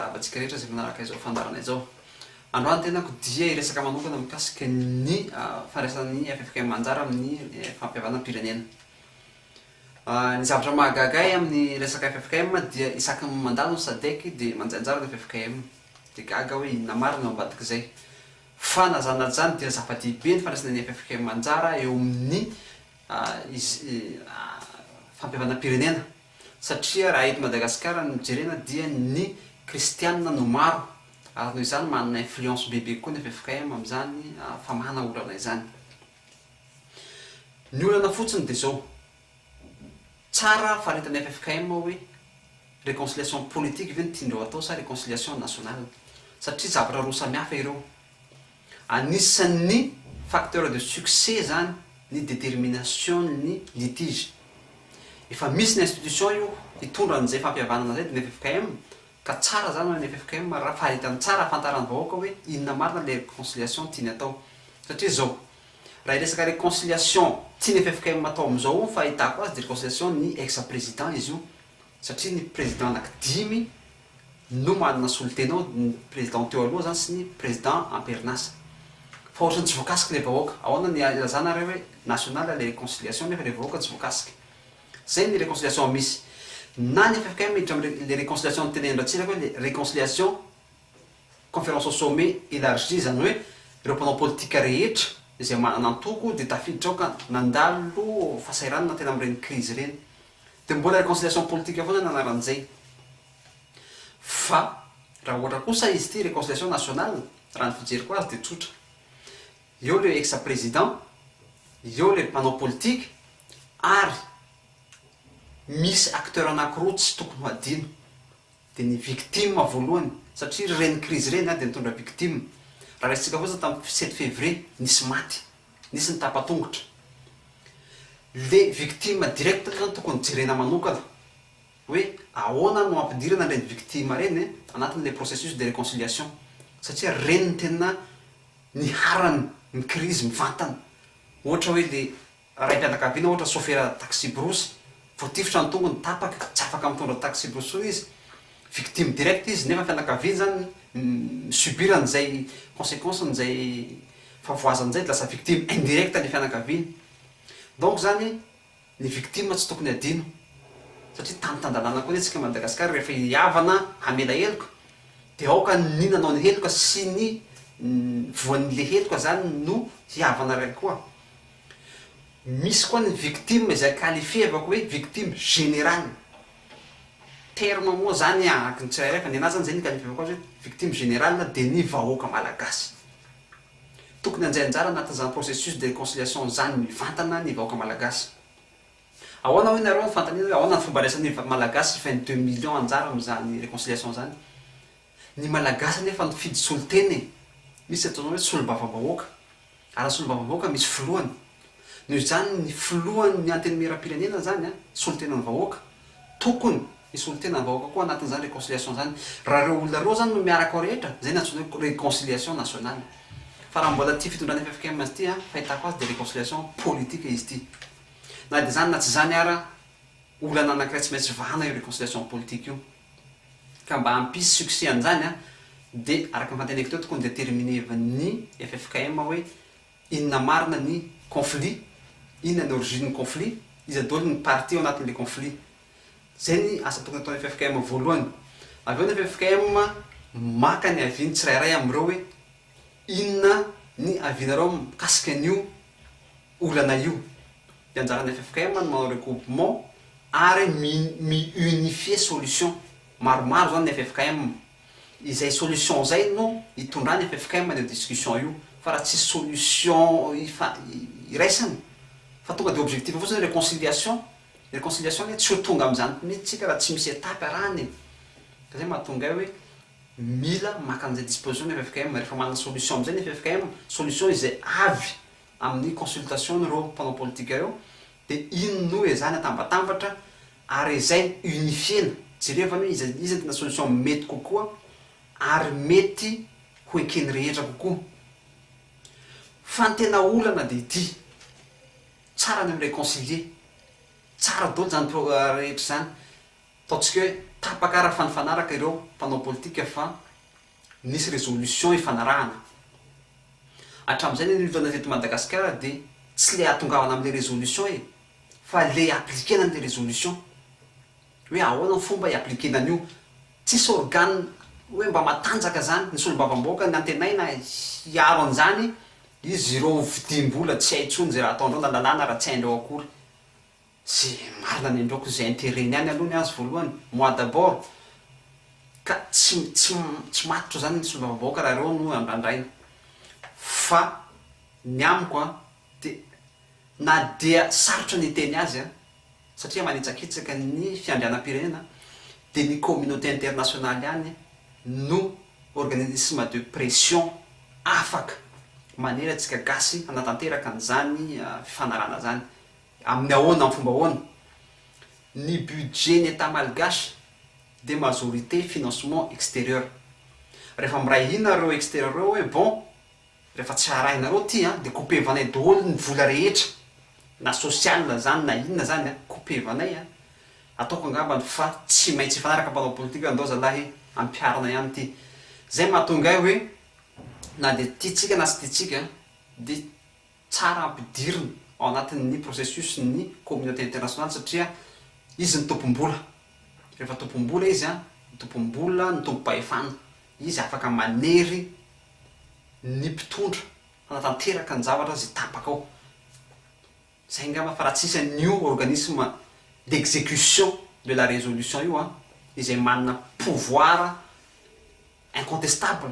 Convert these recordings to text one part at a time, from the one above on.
Tapatsika rehetra izay manaraka izao fandaharana izao. Androany tenako dia hiresaka manokana mikasika ny fandraisan'ny ffkm anjara amin'ny fampihavanam-pirenena. Ny zavatra mahagaga ahy amin'ny resaka ffkm dia isaky ny mandalo ny sadec dia manjay anjara ny ffkm. Dia gaga aho hoe inona marina eo ambadik'izay. Fa na izany na tsy izany dia zava-dehibe ny fandraisana ny ffkm anjara eo amin'ny fampihavanam-pirenena. Satria raha eto Madagasikara no jerena dia ny kristianina no maro ary noho izany manana influence bebe kokoa ny ffkm amin'izany famahana olana izany. Ny olana fotsiny dia izao, tsara faritany ffkm ao hoe reconciliation politique ve no tian'ireo atao sa reconciliation nationale satria zavatra roa samihafa ireo. Anisan'ny facteur de succès zany ny détermination-n'ny litige. Efa misy ny institution io hitondra an'izay fampihavanana izay dia ny ffkm ka tsara zany raha ny ffkm raha faritany tsara hahafantaran'ny vahoaka hoe inona marina ilay reconciliation tiany atao. Satria izao, raha hiresaka reconciliation tian'ny ffkm atao amin'izao ny fahitako azy dia reconciliation-n'ny ex-président izy io satria ny président anaky dimy no manana solontena ao ny président teo aloha zany sy ny président amperinasa fa ohatrany tsy voakasiky le vahoaka ahoana ny ilazana re hoe national le réconciliation nefa le vahoaka tsy voakasiky zay ny réconciliation misy na ny ffkm miditra am le réconciliation ny tenenin ratsiraka hoe le réconciliation conférence au sommet élargie zany hoe reo mpanao politika rehetra izay manana antoko de tafiditra ao ka nandalo fasahiranana tena am reny krizy reny Dia mbola reconciliation politique foana ny anaran'izay. Fa raha ohatra kosa izy ity reconciliation nationale, raha ny fijeriko azy dia tsotra. Eo ilay ex président, eo ilay mpanao politika ary misy acteurs anankiroa tsy tokony ho adino. Dia ny victime voalohany, satria ireny crise ireny dia nitondra victime. Raha raisintsika fotsiny tamin'ny sept février, nisy maty. Nisy ny tapa-tongotra. Le victime direct zany tokony jerena manokana hoe ahoana no ampidirana ireny victime ireny anatin'ilay processus de reconciliation satria ireny no tena niharany ny crise mivantana. Ohatra hoe le raim-pianakaviana ohatra sofera taxi-brousse, voatifitra ny tongony, tapaka, tsy afaka mitondra taxi-brousse intsony izy. Victime directe izy nefa ny fianakaviany zany mi-subir an'izay consequence an'izay fahavoazany izay dia lasa victime indirecte ny fianakaviany. Donc zany ny victime tsy tokony adino satria tany tan-dalàna koa anie tsika Madagascar rehefa i havana hamela heloka dia aoka ny nanao ny heloka sy ny voan'le heloka zany no hihavana raiky koa. Misy koa ny victime izay qualifier avy akoa hoe victime générale. Terme moa zany ahaky ny tsirairay fa ny anah zany zay nikalifivako azy hoe victime générale dia ny vahoaka malagasy. Tokony handray anjara anatin'izany processus de réconciliation izany mivantana ny vahoaka malagasy. Ahoana hoy nareo ny fanontaniana hoe ahoana ny fomba andraisan'ny Malagasy hifany deux millions anjara amin'izany réconciliation izany? Ny malagasy anefa nifidy solontena e! Misy ataonao hoe solombavambahoaka. Ara solombavambahoaka misy filohany. Noho izany ny filohan' ny antenimieram-pirenena izany an, solontenan'ny vahoaka. Tokony hisolontena ny vahoaka koa anatin'izany reconciliation izany. Raha ireo olona ireo izany no miaraka ao rehetra, izay no antsoina hoe reconciliation nationale. Fa raha mbola tia fitondrana ffkm azy ity an, fahitako azy dia reconciliation politique izy ity. Na dia izany na tsy izany ara, olana anankiray tsy maintsy vahana io reconciliation politique io. Ka mba hampisy succès an'izany an, dia araka ny fanteneko teo tokony determinevan'ny ffkm hoe inona marina ny conflit, inona ny origine'ny conflit, iza daholo ny partie ao anatin'ilay conflit. Izay ny asa tokony ataon'ny ffkm voalohany. Avy eo ny ffkm maka ny avis-ny tsirairay amin'ireo hoe inona ny avis-nareo mikasika an'io olana io. Dia anjaran'ny ffkm ny manao recoupement ary mi mi unifier solution. Maromaro izany ny ffkm. Izay solution izay no itondrany ffkm any discussion io fa raha tsisy solution ifa iraisana fa tonga dia objectif fotsiny hoe reconciliation. Ny reconciliation anie tsy ho tonga amin'izany mihitsy tsika raha tsy misy étape arahany e. Ka izay mahatonga ahy hoe mila maka an'izay disposition ny ffkm. Rehefa manana solution amin'izay ny ffkm, solution izay avy amin'ny consultation n'ireo mpanao politika ireo dia iny no ezahina atambatambatra ary ezahina unifier-na, jerevana hoe iza iza no tena solution mety kokoa ary mety ho eken'ny rehetra kokoa. Fa ny tena olana dia ity, tsara ny mi-reconcilier, tsara daholo izany pro- rehetra izany, ataontsika hoe tapaka ara-fanifanaraka ireo mpanao politika fa Nisy résolution ifanarahana. Hatramin'izay ny anivonana teto Madagasikara dia tsy le ahatongavana amin'ilay résolution e! fa le appliquer-na an'ilay résolution. Hoe ahoana ny fomba hi-appliquer-na an'io. Tsisy organe hoe mba matanjaka izany, ny solombavambahoaka ny antenaina hiaro an'izany, izy ireo vidim-bola tsy hay intsony izay raha ataondreo na lalàna raha tsy haindreo akory. Ze marina ny andraoko ze interet ny any aloha ny azy voalohany moi d'abord ka tsy tsy tsy matotra zany ny solombavamb aoka raha reo no andrandraina fa ny amiko a de na dia sarotra ny hiteny azy a satria manitsakitsaka ny fiandrianam pirenena de ny communauté internationale ihany no organisme de pression afaka manery antsika gasy hanatanteraka an'zany fifanarahana zany Amin'ny ahoana, amin'ny fomba ahoana? Ny budget ny Etat malgache dia majorité financement exterieur. Rehefa miray hina ireo exterieur ireo hoe bon, rehefa tsy arahinareo ity an, dia coupevanay daholo ny vola rehetra, na social izany na inona izany an, coupevanay an, ataoko angambany fa tsy maintsy hifanaraka mpanao politika ndao zalahy e, ampiharina ihany ity. Izay mahatonga ahy hoe na dia tiantsika na tsy tiantsika dia. tsara ampidirina ao anatin'ny processus ny communauté internationale satria izy ny tompom-bola, rehefa tompom-bola izy an, ny tompom-bola, ny tompom-pahefana, izy afaka manery ny mpitondra hanatanteraka ny zavatra izay tapaka ao, zay angamba fa raha tsisy an'io organisme d'execution de la résolution io an, izay manana pouvoir. incontestable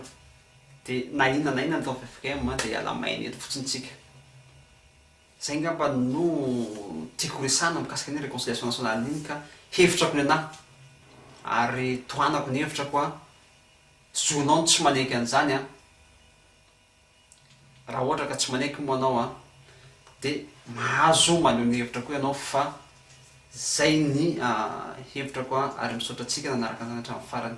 de na inona na inona atao ffkm de iala maina eto fotsiny tsika zay ngamba no tiako resahana mikasika ny reconciliation nationale iny ka hevitrako nenaha ary tohanako ny hevitrako a zonao ny tsy manaiky an'izany a raha ohatra ka tsy manaiky moa anao a de mahazo maneho ny hevitra koa ianao fa zay ny hevitrako a ary misaotra antsika nanaraka an'izany hatramin'ny farany.